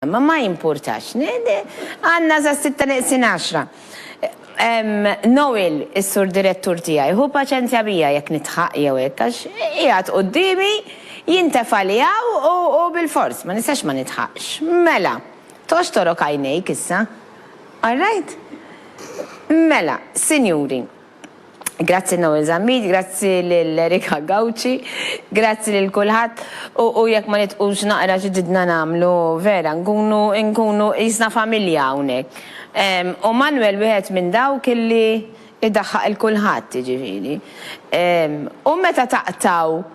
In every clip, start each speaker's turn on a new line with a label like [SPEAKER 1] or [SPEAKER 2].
[SPEAKER 1] Ma ma jimpurtax. Għanna sa sitta neqsin għaxra. Noel, is-sur direttur tiegħi, hu paċenzja bija jekk nitħaq jew hekk għax qiegħed quddiemi jintefa' li hawn u bilfors ma nistax ma nitħaqx. Mela, toxtorok għajnejk issa. All right? Mela, sinjuri. Grazzi Noel Zammit, grazzi lil Erika Gauci, grazzi lil kulħadd u jekk ma nitqux naqra xi ġidna nagħmlu vera nkunu nkunu qisna familja hawnhekk. U Manwel wieħed minn dawk illi idaħħaq lil kulħadd jiġifieri. U meta taqtgħu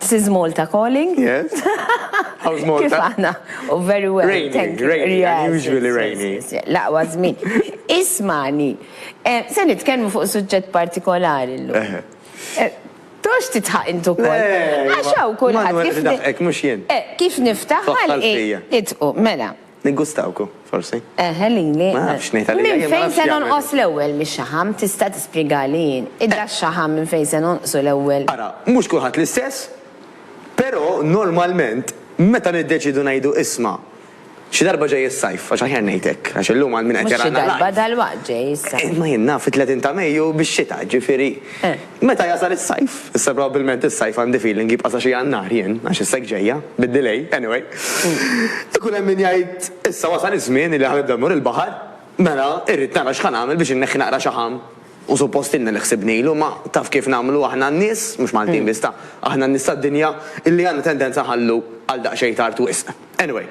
[SPEAKER 1] This is Malta calling. Yes.
[SPEAKER 2] How's Malta? Kif aħna?
[SPEAKER 1] Oh, very well. Rainy, Thank you. rainy,
[SPEAKER 2] yes, unusually yes, rainy. Yes, yes. Laqwa żmien.
[SPEAKER 1] Ismani, eh, se nitkellmu fuq suġġett partikolari llum. Eh. Eh, Tox titħaq intu kol. Għaxaw kulħadd. Kif niftaħ għal nitqu, mela. Niggustawku,
[SPEAKER 2] forsi. Eħe, lili. Ma
[SPEAKER 1] nafx ngħid għalija, jien ma
[SPEAKER 2] nafx jagħmel. Minn fejn se nonqos
[SPEAKER 1] l-ewwel mix-xaħam? Tista' tispjegali jien? Id-dax-xaħam minn fejn se nonqsu l-ewwel? Ara, mhux kulħadd
[SPEAKER 2] l-istess, però normalment meta niddeċiedu ngħidu isma', xi darba ġej is-sajf, għax aħjar ngħid hekk, għax illum għal min qed jarana live. Mhux xi darba, dalwaqt
[SPEAKER 1] ġej is-sajf. Imma jien naf it-30 ta'
[SPEAKER 2] Mejju bix-xita, jiġifieri. Meta jasal is-sajf, issa probabbilment is-sajf għandi feeling jibqa' sa xi Jannar jien, għax is-seg ġejja, bid-delay, anyway, ikun hemm min jgħid issa wasal iż-żmien li ħa nibda mmur il-baħar, mela irrid nara x'ħa nagħmel biex inneħħi naqra xaħam u suppost ilna li ħsibnilu, imma taf kif nagħmlu aħna n-nies, mhux Maltin biss ta', aħna n-nies tad-dinja, illi għandna tendenza nħallu għal daqsxejn tard wisq. Anyway,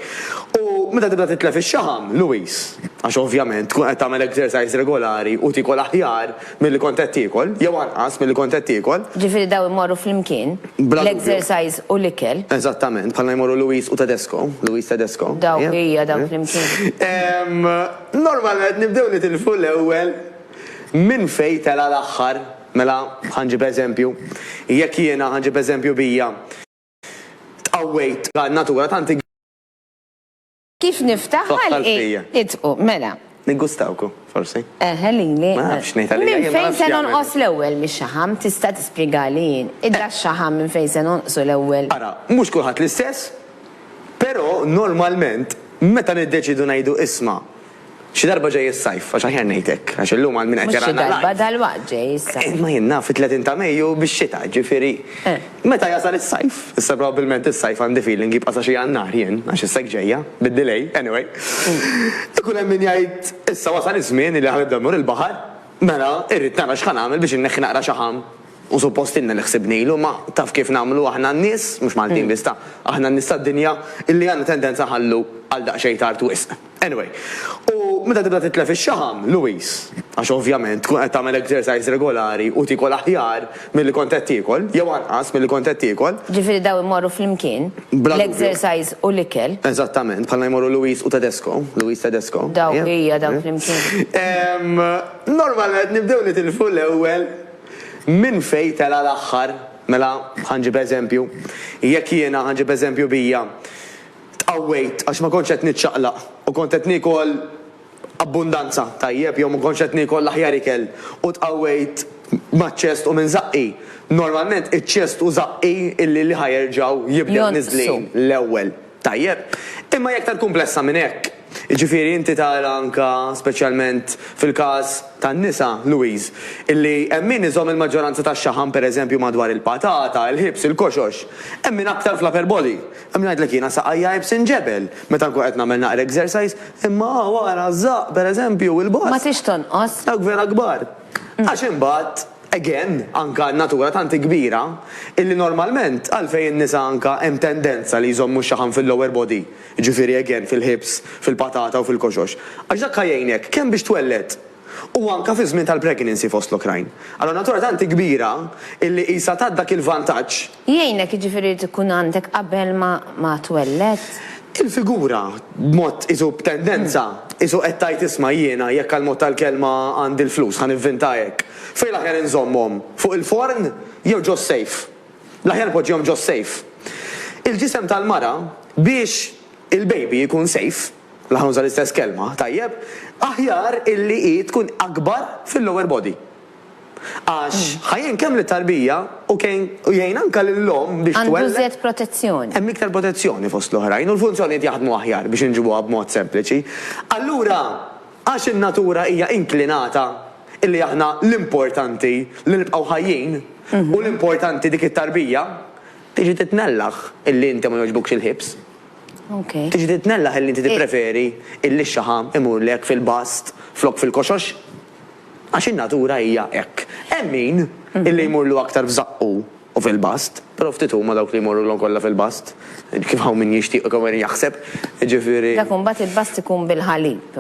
[SPEAKER 2] u meta tibda titlef ix-xaħam, Louis, għax ovvjament tkun qed tagħmel exercise regolari u tiekol aħjar milli kont qed tiekol, jew anqas milli kont qed tiekol. Ġifieri dawn imorru
[SPEAKER 1] flimkien, l-exercise u l-ikel. Eżattament, bħalma jmorru
[SPEAKER 2] Louis u Tedesco, Louis Tedesco. Dawk, ija,
[SPEAKER 1] dawk flimkien. Normalment
[SPEAKER 2] nibdew nitilfu l-ewwel minn fejn tela' l-aħħar. Mela, ħa nġib eżempju, jekk jiena, ħa nġib eżempju bija. Tqawwejt għal natura tant.
[SPEAKER 1] Kif niftaħ ħalqi itqu, mela. Niggustawku,
[SPEAKER 2] forsi. Eħe lili. Ma
[SPEAKER 1] nafx ngħid għalija.
[SPEAKER 2] Minn fejn se nonqos
[SPEAKER 1] l-ewwel mix-xaħam tista' tispjegali jien. Idda x-xaħam minn fejn se nonqsu l-ewwel. Ara, mhux kulħadd
[SPEAKER 2] l-istess, però normalment meta niddeċiedu ngħidu isma' Xi darba ġej is-sajf, għax aħjar ngħid hekk, għax illum għal min qed Mhux xi jarana darba, live. dalwaqt ġej
[SPEAKER 1] is-sajf. Imma jien naf it-30 ta'
[SPEAKER 2] Mejju bix-xita, jiġifieri meta jasal is-sajf. Issa probabbilment is-sajf għandi feeling jibqa' sa xi Jannar jien, għax issa hekk ġejja, bid-delay, anyway. Ikun hemm min jgħid issa wasal iż-żmien li ħanibda mmur il-baħar, mela irrid nara x'ħa nagħmel biex inneħħi naqra xaħam u suppost ilna li ħsibnilu, ma taf kif nagħmlu aħna n-nies, mhux Maltin biss ta', aħna n-nies tad-dinja illi għandna tendenza nħallu għal daqsxejn tard wisq. Anyway, u meta tibda titlef ix-xaħam, Louise, għax ovvjament tkun qed tagħmel exercise regolari u tiekol aħjar milli kont qed tiekol, jew anqas milli kont qed tiekol. Ġifieri dawn imorru
[SPEAKER 1] flimkien, l-exercise u l-ikel. Eżattament, bħalma jmorru
[SPEAKER 2] Louise u Tedesco, Louise Tedesco. Daw, ija, daw
[SPEAKER 1] flimkien. Normalment
[SPEAKER 2] nibdew nitilfu l-ewwel minn fejn tela' l-aħħar. Mela, ħa nġib eżempju, jekk jiena, ħa nġib eżempju bija, Tqawwejt għax ma kontx qed niċċaqlaq u kont qed niekol abbundanza, tajjeb, jew ma kontx qed niekol l-aħjar ikel u tqawwejt maċ-ċest u minn żaqqi. Normalment iċ-ċest u żaqqi li li ħa jerġgħu jibdew niżlin l-ewwel, tajjeb. Imma hi aktar kumplessa minn hekk. Jiġifieri inti tara anke speċjalment fil-każ tan-nisa, Louise, illi hemm min iżomm il-maġġoranza tax-xaħam pereżempju madwar il-patata, il-ħibs, il-koxox. Hemm min aktar fl-upper body. Hemm ngħidlek jiena saqajja għajb sinġebel meta nkun qed nagħmel naqra exercise, imma hawn ara ż-żaqq pereżempju, il-boss. Ma trix tonqos. Dawk
[SPEAKER 1] vera kbar.
[SPEAKER 2] Għax imbagħad, again, anke n-natura tant hi kbira, illi normalment għalfejn in-nisa anke hemm tendenza li jżommu x-xaħam fil-lower body, jiġifieri again fil-hips, fil-patata u fil-koxox, għax dak ħa jgħinek kemm biex twelled u anke fiż-żmien tal-pregnancy fost l-oħrajn. Allura n-natura tant hi kbira illi qisha tat dak il-vantaġġ. Jgħinek,
[SPEAKER 1] jiġifieri jrid ikun għandek
[SPEAKER 2] qabel
[SPEAKER 1] ma twelled?
[SPEAKER 2] Il-figura, b'mod qisu b'tendenza, qisu qed tgħid isma' jiena jekk għall-mod tal-kelma għandi l-flus ħa nivvinta hekk. Fejn l-aħjar inżommhom? Fuq il-forn jew ġo s-sejf? L-aħjar poġġihom ġo s-sejf. Il-ġisem tal-mara biex il-baby jkun sejf, l-aħjar nuża l-istess kelma, tajjeb, aħjar illi hi tkun akbar fil-lower body. Għax ħa jgħin kemm lit-tarbija u kejn u jgħin anke lill-omm biex twelled. Għandu iżjed protezzjoni.
[SPEAKER 1] Hemm iktar protezzjoni
[SPEAKER 2] fost l-oħrajn u l-funzjonijiet jaħdmu aħjar biex inġibuha b'mod sempliċi. Allura, għax in-natura hija inklinata illi aħna l-importanti li nibqgħu ħajjin u l-importanti dik it-tarbija, tiġi titnellaħ illi inti ma jogħġbukx il-ħibs. Ok. Tiġi titnellaħ illi inti tippreferi illi x-xaħam imurlek fil-bast flok fil-koxox. Għax in-natura hija hekk. Hemm min illi jmurlu aktar f'żaqqu u fil-bast, però ftit huma dawk li jmorrulhom kollha fil-bast, kif hawn min jixtieq u kemm hawn min jaħseb, jiġifieri. Dak imbagħad il-bast
[SPEAKER 1] ikun bil-ħalib,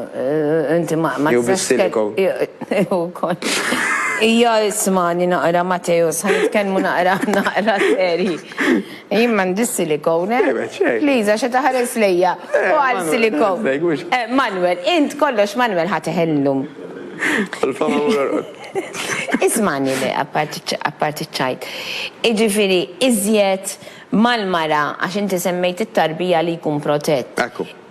[SPEAKER 1] inti ma tistax. Jew bis-siliko.
[SPEAKER 2] Jew ukoll.
[SPEAKER 1] Ija ismagħni naqra Mateo, se nitkellmu naqra, naqra serji. Jien m'għandix silikone. Liza xi taħares lejja. U għal silikone. Eh, Manuel, int kollox Manuel ħateħellum. Ismani li apparti ċajt. Iġifiri, iżjed mal-mara, għax inti semmejt it-tarbija li jkun protett.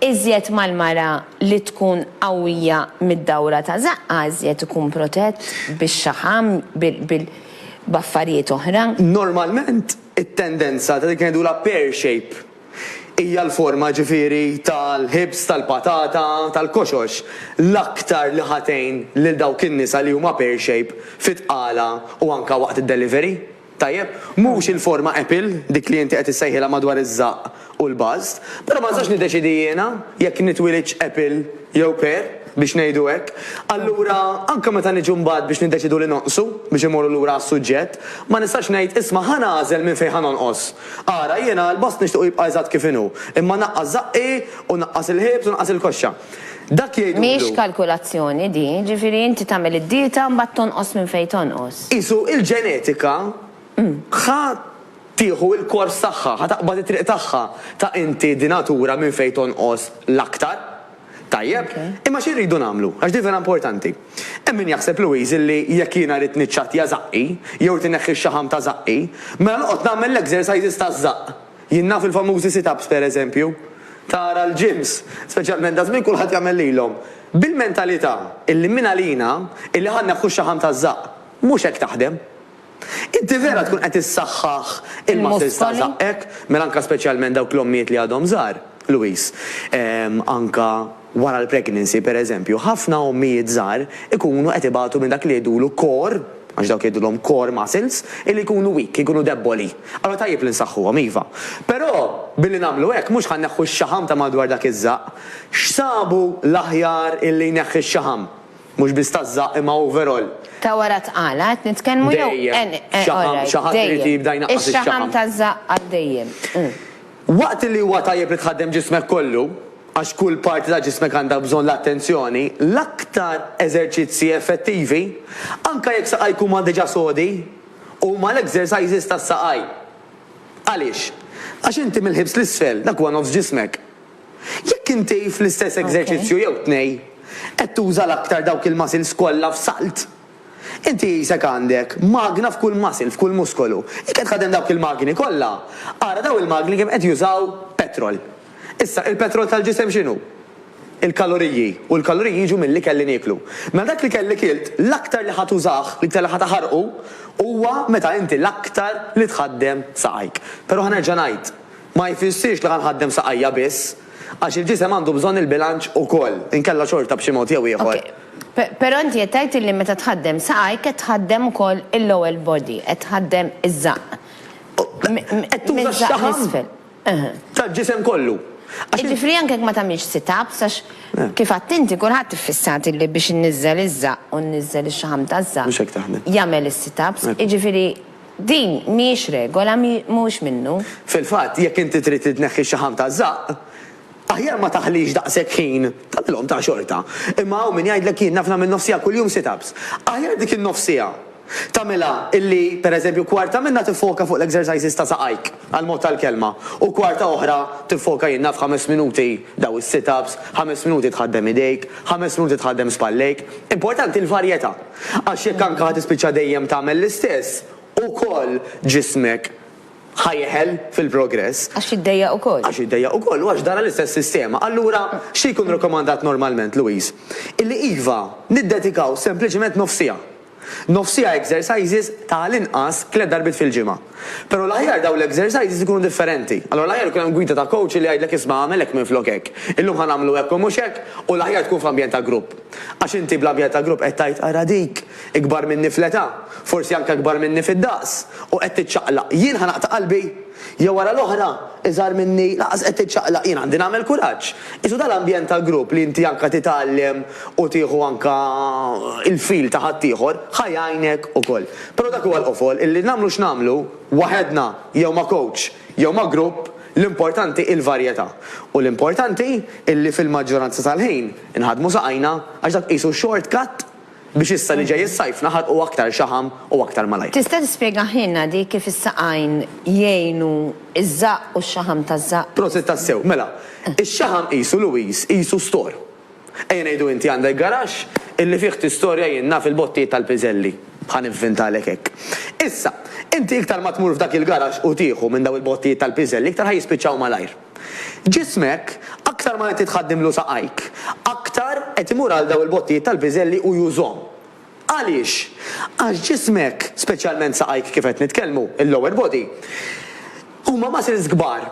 [SPEAKER 1] Iżjed mal-mara li tkun qawwija mid-dawra ta' zaqqa, iżjed ikun protett biex xaħam bil-baffarijiet oħra. Normalment,
[SPEAKER 2] It-tendenza ta' dik li ngħidulha pear shape hija l-forma ġifieri tal-ħibs tal-patata tal-koxox l-aktar li ħa tgħin lil dawk in-nisa li huma pear shape fit-tqala u anke waqt id-delivery. Tajjeb? Mhux il-forma apple, dik li inti qed issejħilha madwar iż-żaqq. u l-bust, però ma nistax niddeċiedi jiena jekk nitwielidx apple jew pear, biex ngħidu hekk. Allura, anke meta niġu mbagħad biex niddeċiedu li nonqsu, biex immorru lura għas-suġġett, ma nistax ngħid, isma' ħa nagħżel minn fejn ħa nonqos. Ara, jiena l-bust nixtiequ jibqa' eżatt kif inhu, imma naqqas żaqqi u naqqas il-ħiebs u naqqas il-koxxa. Dak jgħidulu. Mhix kalkulazzjoni
[SPEAKER 1] din, jiġifieri inti tagħmel id-dieta mbagħad tonqos minn fejn tonqos. Qisu il-ġenetika.
[SPEAKER 2] Ħa tieħu il-kors tagħha, ħa taqbad it-triq tagħha. Ta' inti di natura minn fejn tonqos l-aktar. Tajjeb, imma xi rridu nagħmlu? Għax di vera importanti. Hemm min jaħseb, Louise, li jekk jiena rrid niċċattja żaqqi, jew rrid inneħħi x-xaħam ta' żaqqi, mela noqgħod nagħmel l-exercises taż-żaqq. Jien naf il-famużi sit-ups, per eżempju. Tara l-gyms, speċjalment daż-żmien kulħadd jagħmel lilhom. Bil-mentalità illi mingħalina illi ħa nneħħu x-xaħam taż-żaqq. Mhux hekk taħdem. Inti vera tkun qed issaħħaħ il-muscles ta' żaqqek, mela anke speċjalment dawk l-ommijiet li għadhom żgħar, Louise. Anke wara l-pregnancy, per eżempju, ħafna ommijiet żgħar ikunu qed ibatu minn dak li jgħidulu core, għax dawk jgħidulhom core muscles, illi jkunu weak, jkunu debboli. Allura tajjeb li nsaħħuhom, iva. Però, billi nagħmlu hekk, mhux ħa nneħħu x-xaħam ta' madwar dak iż-żaqq. X'sabu l-aħjar illi jneħħi x-xaħam? Mhux biss taż-żaqq imma overall. Ta' wara t-tqala
[SPEAKER 1] qed nitkellmu jew. Dejjem. Xaħam, xi ħadd irid jibda
[SPEAKER 2] jnaqqas ix-xaħam. Ix-xaħam taż-żaqq għal
[SPEAKER 1] dejjem. Waqt
[SPEAKER 2] li huwa tajjeb li tħaddem ġismek kollu, għax kull parti ta' ġismek għandha bżonn l-attenzjoni, l-aktar eżerċizzji effettivi, anke jekk saqajk huma diġà sodi, huma l-exercises tas-saqaj. Għaliex? Għax inti mill-ħibs 'l isfel, dak huwa nofs ġismek. Jekk inti fl-istess eżerċizzju jew tnej qed tuża l-aktar dawk il-muscles kollha f'salt, inti qisek għandek magna f'kull muscle, f'kull muskolu. Jekk qed tħaddem dawk il-magni kollha, ara dawn il-magni kemm qed jużaw petrol. Issa, il-petrol tal-ġisem x'inhu? Il-kaloriji, u l-kaloriji jiġu mill-ikel li nieklu. Mela dak l-ikel li kilt, l-aktar li ħa tużah, l-iktar li ħa taħarqu, huwa meta inti l-aktar li tħaddem saqajk. Però ħa nerġa' ngħid, Ma jfissirx li ħa nħaddem saqajja biss, għax il-ġisem għandu bżonn il-bilanċ ukoll, inkella xorta b'xi mod jew ieħor. Ok, però inti
[SPEAKER 1] qed tgħid illi meta tħaddem saqajk qed tħaddem ukoll il-lower body, qed tħaddem iż-żaqq.
[SPEAKER 2] Qed tuża x-xaħam tal-ġisem kollu. Jiġifieri anke
[SPEAKER 1] jekk ma tagħmilx sit-ups, għax kif għedt inti kulħadd iffissat illi biex inniżżel iż-żaqq u nniżżel ix-xaħam taż-żaqq jagħmel
[SPEAKER 2] is-sit-ups,
[SPEAKER 1] jiġifieri. Din mhijiex regola, mhuwiex minnu. Fil-fatt, jekk inti
[SPEAKER 2] trid itneħħi x-xaħam taż-żaqq, aħjar ma taħlix daqshekk ħin, tagħmilhom ta' xorta. Imma hawn min jgħidlek jien naf nagħmel nofsiegħa kuljum sit-ups. Aħjar dik in-nofsiegħa tagħmilha illi, per eżempju, kwarta minnha tiffoka fuq l-exercises ta' saqajk, għall-mod tal-kelma, u kwarta oħra tiffoka jien naf ħames minuti daw is-sit-ups, ħames minuti tħaddem idejk, ħames minuti tħaddem spallejk. Importanti l-varjetà. Għax jekk anke ħa tispiċċa dejjem tagħmel l-istess, ukoll ġismek ħa jeħel fil-progress. Għax jiddejjaq ukoll.
[SPEAKER 1] Għax jiddejjaq ukoll u għax
[SPEAKER 2] dara l-istess sistema. Allura, xi jkun rakkomandat normalment, Louise? Illi iva, niddedikaw sempliċement nofsiegħa. Nofsiegħa exercises ta' għall-inqas tliet darbiet fil-ġimgħa. Però l-aħjar dawn l-exercises ikunu differenti. Allura l-aħjar ikun hemm gwida ta' coach li jgħidlek isma' agħmel hekk minflok hekk. Illum ħa nagħmlu hekk u mhux hekk u l-aħjar tkun f'ambjent ta' grupp. Għax inti bl-ambjent ta' grupp qed tgħid ara dik, ikbar minni fl-età, forsi anke ikbar minni fid-daqs, u qed tiċċaqlaq. Jien ħa naqta' qalbi? Jew ara l-oħra, iżgħar minni, lanqas qed tiċċaqlaq, jien għandi nagħmel kuraġġ. Qisu dan l-ambjent ta' grupp li inti anke titgħallem u tieħu anke il-feel ta' ħaddieħor, ħa jgħinek ukoll. Però dak huwa l-qofol illi nagħmlu x'nagħmlu, waħedna jew ma' kowċ jew ma' grupp, l-importanti hi l-varjetà. U l-importanti illi fil-maġġoranza tal-ħin inħaddmu saqajna għax dak qisu short cut biex issa li ġej is-sajf naħarqu aktar xaħam u aktar malajr. Tista' tispjegahielna
[SPEAKER 1] di kif is-saqajn jgħinu ż-żaqq u x-xaħam taż-żaqq? Prosit tassew. Mela,
[SPEAKER 2] ix-xaħam qisu Louise, qisu store. Ejja ngħidu inti għandek garaxx illi fih tistorja jien naf il-bottijiet tal-piżelli. Ħa nivvintalek hekk. Issa, inti iktar ma tmur f'dak il-garaxx u tieħu minn dawn il-bottijiet tal-piżelli iktar ħa jispiċċaw malajr. Ġismek, aktar ma inti tħaddimlu saqajk, aktar qed imur għal dawn il-bottijiet tal-piżelli u jużhom. Għaliex? Għax ġismek, speċjalment saqajk kif qed nitkellmu, il-lower body, huma muscles kbar.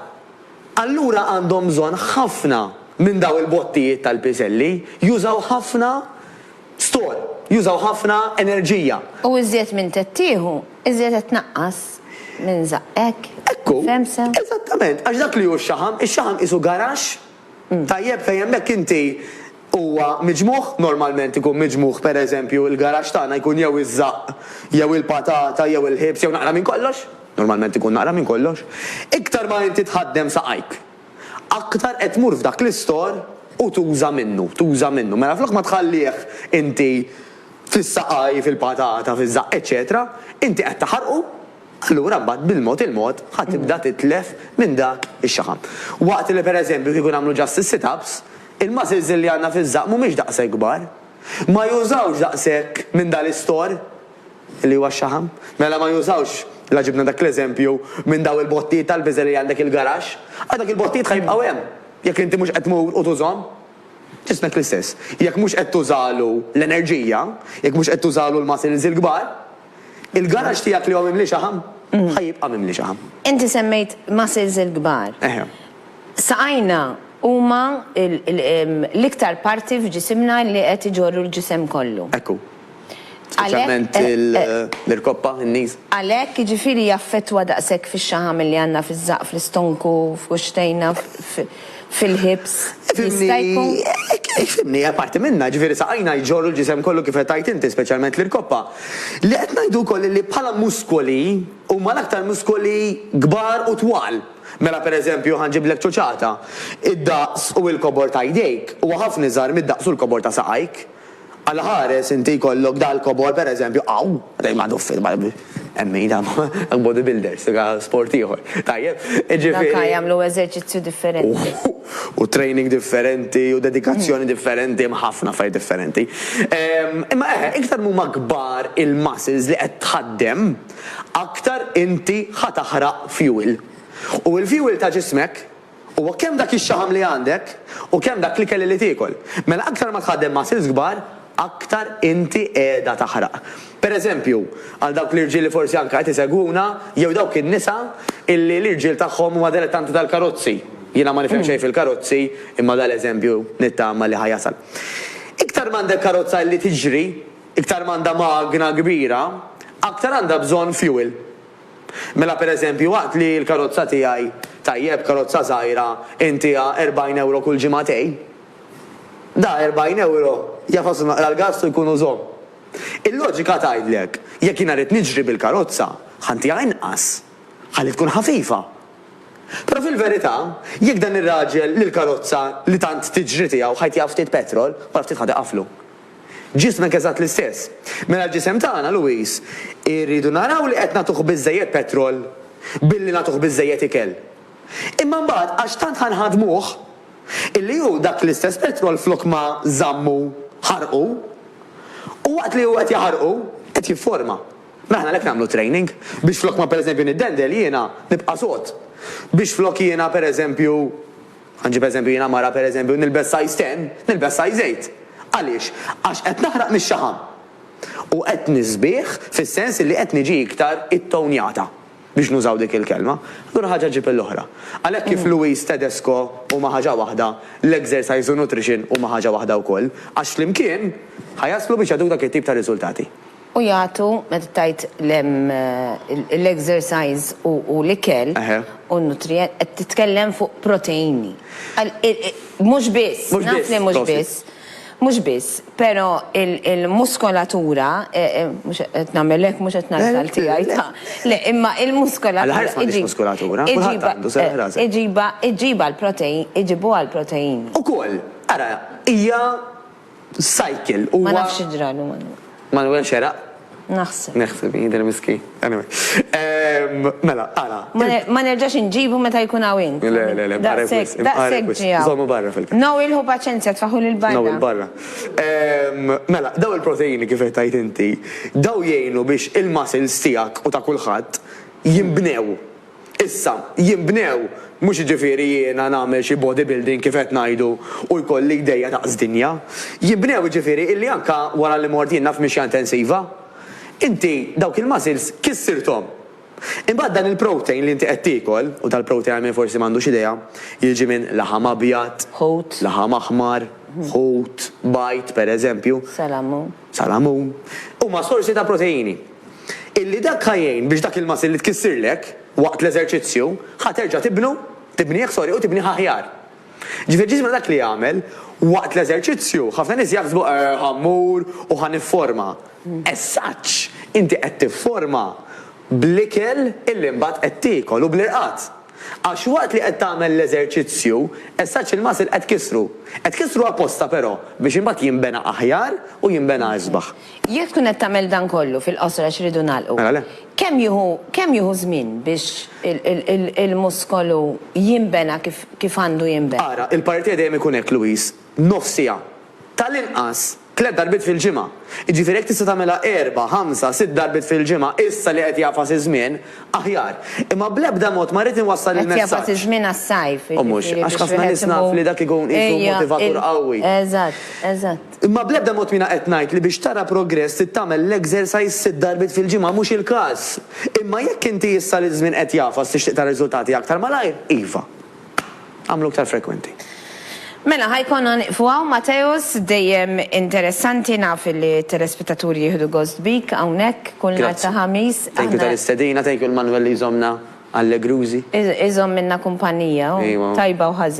[SPEAKER 2] Allura għandhom bżonn ħafna minn dawn il-bottijiet tal-piżelli, jużaw ħafna store, jużaw ħafna enerġija. U iżjed minn
[SPEAKER 1] qed tieħu, iżjed qed tnaqqas minn żaqq, hekk? Ekku. Fehmt sew?
[SPEAKER 2] Eżattament. Għax dak li hu x-xaħam, ix-xaħam qisu garaxx tajjeb fejn hemmhekk inti huwa miġmugħ, normalment ikun miġmugħ pereżempju il-garaxx tagħna jkun jew iż-żaqq jew il-patata jew il-ħiebs jew naqra minn kollox, normalment ikun naqra minn kollox, iktar ma inti tħaddem saqajk, aktar qed tmur f'dak l-istor u tuża minnu, tuża minnu. Mela flok ma tħallih inti fis-saqajh, fil-patata, fiż-żaqq, eċċetera, inti qed taħarqu, allura mbagħad bil-mod il-mod ħa tibda titlef minn dak ix-xaħam. Waqt li pereżempju kieku nagħmlu just is-sit-ups, Il-muscles li għandna fiż-żaqq mhumiex daqshekk kbar. Ma jużawx daqshekk minn dan l-istorr, li huwa x-xaħam. Mela ma jużawx, la ġibna dak l-eżempju, minn dawn il-bottijiet tal-biżel li għandek il-garaxx, għax dak il-bottijiet ħa jibqgħu hemm, jekk inti mhux qed tmur u tużhom. Ġismek l-istess, jekk mhux qed tużalu l-enerġija, jekk mhux qed tużalu l-muscles il-kbar. Il-garaġġ tiegħek li hu mimli xaħam, ħa jibqa' mimli xaħam. Inti semmejt
[SPEAKER 1] muscles il-kbar. Eħe. Saqajna huma l-iktar parti f'ġisimna li qed iġorru l-ġisem kollu. Hekk hu.
[SPEAKER 2] Speċjalment l-irkoppa, in-knees. Għalhekk, jiġifieri jaffettwa
[SPEAKER 1] daqshekk fix-xaħam li għandna fiż-żaqq, fl-istonku, f'kuxxtejna, f'. fil-ħibs jista' jkun.
[SPEAKER 2] Ifhimni, hija parti minnha, ġifieri saqajna jġorru l-ġisem kollu kif qed tgħid inti, speċjalment l-irkoppa. Li qed ngħidu wkoll hi li bħala muskoli huma l-aktar muskoli kbar u twal. Mela pereżempju ħa nġiblek ċuċata, id-daqs u l-kobor ta' jdejk huwa ħafna iżgħar mid-daqs u l-kobor ta' saqajk. Għal ħares inti jkollok dal-kobor pereżempju hawn, dejjem m'għadu fil hemm min jagħmel bodybuilders, dak sport ieħor. Tajjeb, jiġifieri. Dak jagħmlu eżerċizzju
[SPEAKER 1] differenti. U training
[SPEAKER 2] differenti u dedikazzjoni differenti, hemm ħafna affarijiet differenti. Imma eħe, iktar m'huma kbar il-muscles li qed tħaddem, aktar inti ħa taħraq fuel. U l-fuel ta' ġismek Huwa kemm dak ix-xaħam li għandek u kemm dak l-ikel li tiekol. Mela aktar ma tħaddem muscles kbar, aktar inti qiegħda taħraq. Per eżempju, għal dawk l-irġiel li forsi anke qed isegwuna, jew dawk in-nisa illi l-irġiel tagħhom huma dilettanti tal-karozzi, jiena ma nifhem xejn fil-karozzi imma dan l-eżempju nittama li ħa jasal. Iktar m'għandek karozza illi tiġri, iktar m'għandha magna kbira, aktar għandha bżonn fuel. Mela pereżempju waqt li l-karozza tiegħi, tajjeb karozza żgħira, intiha 40 ewro kull ġimagħtej, da 40 ewro jafas u naqra l-gass u jkunu żomm. Il-loġika tgħidlek jekk jiena rrid niġri bil-karozza, ħa ntiha inqas, ħalli tkun ħafifa. Però fil-verità, jekk dan ir-raġel li l-karozza li tant tiġri tiegħu ħa jtiha ftit petrol, wara ftit ħa tiqaflu. Ġismek eżatt l-istess. Mela l-ġisem tagħna, Louise, irridu naraw li qed nagħtuh biżżejjed petrol billi nagħtuh biżżejjed ikel. Imma mbagħad għax tant ħa nħaddmuh, illi hu dak l-istess petrol flok ma żammu ħarqu, u waqt li hu qed jaħarqu, qed jifforma. Mela aħna għalhekk nagħmlu training, biex flok ma pereżempju niddendel jiena nibqa' sod, biex flok jiena pereżempju, Ħa nġib eżempju, jiena mara pereżempju nilbes size ten, nilbes size eight. Għaliex? Għax qed naħraq mix-xaħam. U qed nisbieh fis-sens illi qed niġi iktar ittownjata, biex nużaw dik il-kelma. Allura ħaġa ġġib l-oħra. Għalhekk kif Louise Tedesco huma ħaġa waħda, l-exercise u nutrition huma ħaġa waħda wkoll, għax flimkien ħa jaslu biex jagħtuk dak it-tip ta' riżultati. U jagħtu,
[SPEAKER 1] meta tgħid l-exercise u l-ikel u n-nutrient, qed titkellem fuq proteini. Mhux biss, naf li mhux biss, mhux biss, però l-muskolatura, mhux qed nagħmel hekk, mhux qed ngħid għal tiegħi, ta', le, imma l-muskolatura. Għal ħafna nies muskolatura, kulħadd għandu, serraħ rasek. Iġibha, iġibha l-proteini, iġibuha l-proteini. Ukoll, ara,
[SPEAKER 2] hija. Cycle huwa. Ma nafx xi
[SPEAKER 1] ġralu Manwel. Manwel xeraq?
[SPEAKER 2] Naħseb. Naħseb
[SPEAKER 1] jidher miskin.
[SPEAKER 2] Anyway. Mela, ara. Ma nerġax
[SPEAKER 1] inġibu meta jkun hawn int. Le, le, le, barra
[SPEAKER 2] kwis. Daqshekk ġie
[SPEAKER 1] hawn. Żommu barra fil-każ. No,
[SPEAKER 2] ilħu paċenzja,
[SPEAKER 1] tfaħħu lil barra. No, il-barra.
[SPEAKER 2] Mela, dawn il-proteini kif qed tgħid inti, dawn jgħinu biex il-muscles tiegħek u ta' kulħadd jinbnew. Issa, jinbnew, mhux jiġifieri jiena nagħmel xi body building kif qed ngħidu u jkolli jdejja daqs dinja. Jinbnew jiġifieri illi anke wara li mort jiena f'mixja intensiva, inti dawk il-muscles kissirthom. Imbagħad dan il-protein li inti qed tiekol, u tal-protein għal min forsi m'għandux idea, jiġi minn laħam abjad, laħam aħmar, ħut, bajd, pereżempju, salamun, huma sorsi ta' proteini. illi dak ħa jgħin biex dak il-muscle li tkissirlek waqt l-eżerċizzju ħa terġa' tibnu, tibnieh sorry, u tibnieh aħjar. Ġifieri ġismna dak li jagħmel waqt l-eżerċizzju, ħafna nies jaħsbu eh ħa mmur u ħa nifforma. As such, inti qed tifforma bl-ikel illi mbagħad qed tiekol u bl-irqad. Għax waqt li qed tagħmel l-eżerċizzju, as such il-muscle qed tkissru. Qed tkissru apposta però biex imbagħad jinbena aħjar u jinbena isbaħ. Jekk tkun qed tagħmel
[SPEAKER 1] dan kollu, fil-qosor għax irridu nagħlqu. Mela le. Kemm jieħu, kemm jieħu żmien biex il-muskolu jinbena kif, kif għandu jinbena? Ara, il-partie dejjem ikun
[SPEAKER 2] hekk, Louis. Nofs siegħa. Tal-inqas, tliet darbiet fil-ġimgħa. Jiġifieri jekk tista' tagħmilha erba', ħamsa, sitt darbiet fil-ġimgħa, issa li qed jagħfas iż-żmien, aħjar. Imma bl-ebda mod ma rrid inwassal il-messaġġ. Qed jagħfas iż-żmien għas-sajf, jiġifieri biex wieħed imur. U mhux, għax ħafna nies naf li dak ikun qisu motivatur qawwi. Eżatt, eżatt.
[SPEAKER 1] Imma bl-ebda mod
[SPEAKER 2] m'iena qed ngħid li biex tara progress trid tagħmel l-exercise sitt darbiet fil-ġimgħa, mhux il-każ. Imma jekk inti issa li ż-żmien qed jagħfas tixtieq tara riżultati aktar malajr, iva. Agħmlu aktar frekwenti. Mela ħa
[SPEAKER 1] jkollna nieqfu hawn Mateusz, dejjem interessanti naf li t-telespettaturi jieħdu gost bik hawnhekk kull nhar ta' Ħamis. Grazzi. Thank you tal-istedina,
[SPEAKER 2] thank you lil Manuel li
[SPEAKER 1] jżommna
[SPEAKER 2] allegrużi. Iżommilna kumpanija
[SPEAKER 1] hu, tajba
[SPEAKER 2] u ħażina.